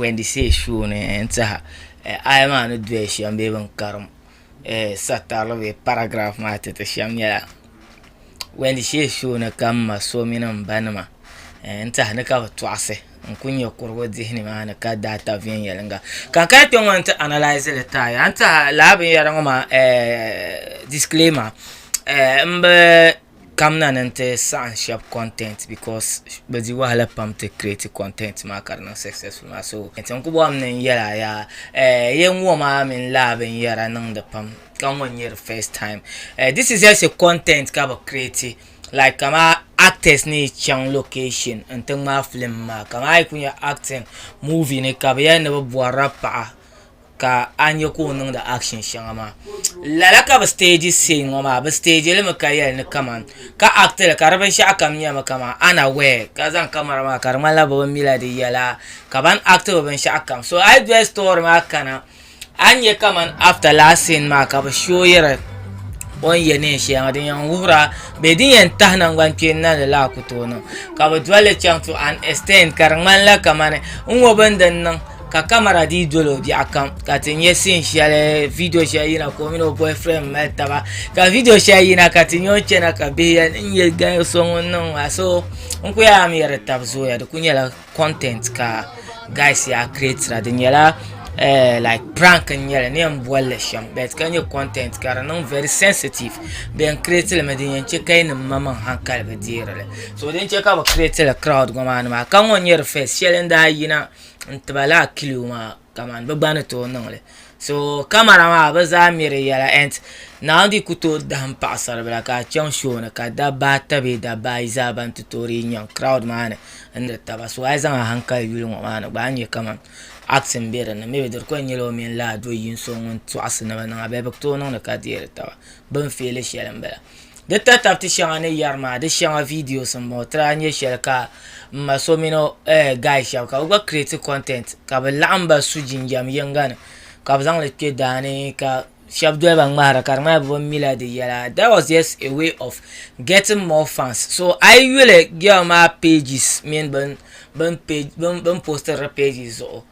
Wendy say show ni n tiɛha aya maa ni doya shɛm bee bin karim satarili bee paragraf maa titi shɛm nyɛla Wendy say show ni ka n ma so mini n ba nima n tiɛha ni ka bi tɔɣisi n ku nyɛ kurigu dihi nimaani ka daa ta viɛnyɛlinga ka n kana kpɛ ŋɔ n ti analyse li taaya a ni tiɛha laa binyɛra ŋɔ maa eh, disclaimer eh, n bi kamina ni n ti saɣam shɛba content because bi di wahala pam ti create content maa ka di niŋ successful maa so n ku bɔhim ni n yɛla yaa eh, yɛ ŋɔ maa mini laa binyɛra niŋdi pam ka ŋɔ n nyɛ di first time eh, this is just a content ka bi create like kama actors ni yi chaŋ location n ti ŋmaai film maa kama a yi ku nya acting movie ni ka bi yɛli ni bi bɔrila paɣa ka a nya ka o niŋdi action shɛŋa maa lala ka bi stage scene ŋɔ maa bi stage li mi ka yɛli ni kaman ka act li ka di binshɛɣu kam nyɛmi kaman unaware ka zaŋ camera maa ka di ŋmanila bi bi mi la di yɛla ka ban act bi binshɛɣu kam so a yi doli story maa kana. A ni nya kaman after last scene maa ka bɛ showiri o ni ye neen shɛli ŋɔ din yɛn wuhira bee din yɛn tahi nangbani kpeeni na ni lala ku tooi niŋ ka bɛ dolli chaŋ to an extent ka di ŋmanila kaman n ŋɔ bini di ni niŋ ka camera dii doli o biɛɣu kam ka ti nya scene shɛli video shɛli yina ka o mini o boy friend mali taba ka video shɛli yina ka ti nya o ni chana ka bihi yɛli n-ye gayo so ŋun niŋ maa so n ku yɛli a mi yɛri di tab zooya di ku nyɛla content ka guys ya create ra di nyɛla eh, like prank n nyɛli ni yɛn bolli shɛm bet ka nyɛ content ka di niŋ very sensitive ben create li mi din yɛn chɛ ka yi nim ma maŋ hankali bi deeri li so din chɛ ka bi create li crowd gba maa nima ka ŋɔ nyɛ di first shɛli n daa yina n tiba laa kilo maa kamani bɛ gba ni tooi niŋ li so kamara maa bɛ zaa ŋme di yɛla and Naawuni ku tooi dahim paɣisaribila ka a chaŋ show ni ka dabba ata bee dabba ayi zaa ban ti tooi dii nyaŋ crowd maa ni n-diri taba so a yi zaŋ a hankali yuli ŋɔ maa ni gba a ni nya kamani acting be din ni maybe di di kɔŋ nyɛla o mini laadɔi yini so ŋun tɔɣisi ni bɛ niŋ a bee bɛ ku tooi niŋ li ka deeri taba bɛ ni feeli shɛli m-bala. Di tatabiti shɛŋa ni yɛri maa di shɛŋa videos n bɔŋɔ tira nyɛ shɛli ka m ma so mini o guy shɛba ka bɛ gba create content ka bɛ laɣim ba su jinjam yiŋga ni ka bɛ zaŋli kpe daani ka shɛba doli ba ŋmahira ka di ŋmanila bɛ bi mi la di yɛla that was just a way of getting more fans so a yi yuli girl maa pages mini bɛ ni postiri di pages zuɣu.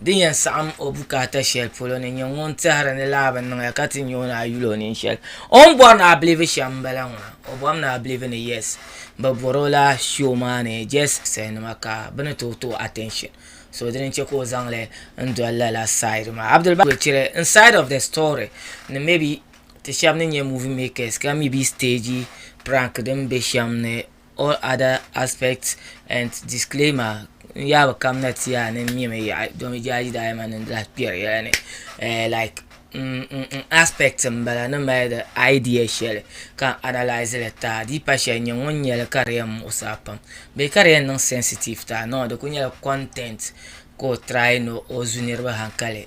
din yɛn saɣim o bukaata shɛli polo ni nyɛ ŋun tɛhiri ni laa bi niŋ ya ka ti nyɛ o ni a yuli o nini shɛli o ni bɔri ni a bilivi shɛm m-bala ŋɔ o bɔrimi ni a bilivi ni yes bi bɔri o la show maa ni just salinima ka bɛ ni tooi ti o attention so dini n-che ka o zaŋ li n doli lala side maa Abdulbari kuli chɛli n side of the story ni maybe ti shɛba ni nyɛ movie makers ka mi be stage prank din be shɛm ni all other aspects and disclaimer n yaa bi kamina ti yaa ni n mimi yaɣi domi jaaji daa yɛn ma niŋ zaɣi kpɛri yɛla ni eh, like mm, mm, mm, aspect n bala ni mali di idea shɛli ka n analyse li taa di pa shɛli nyɛ ŋun nyɛli ka di yɛn muɣisi a pam bee ka di yɛn niŋ sensitive taa no di ku nyɛla content ka o try ni o zu niriba hankali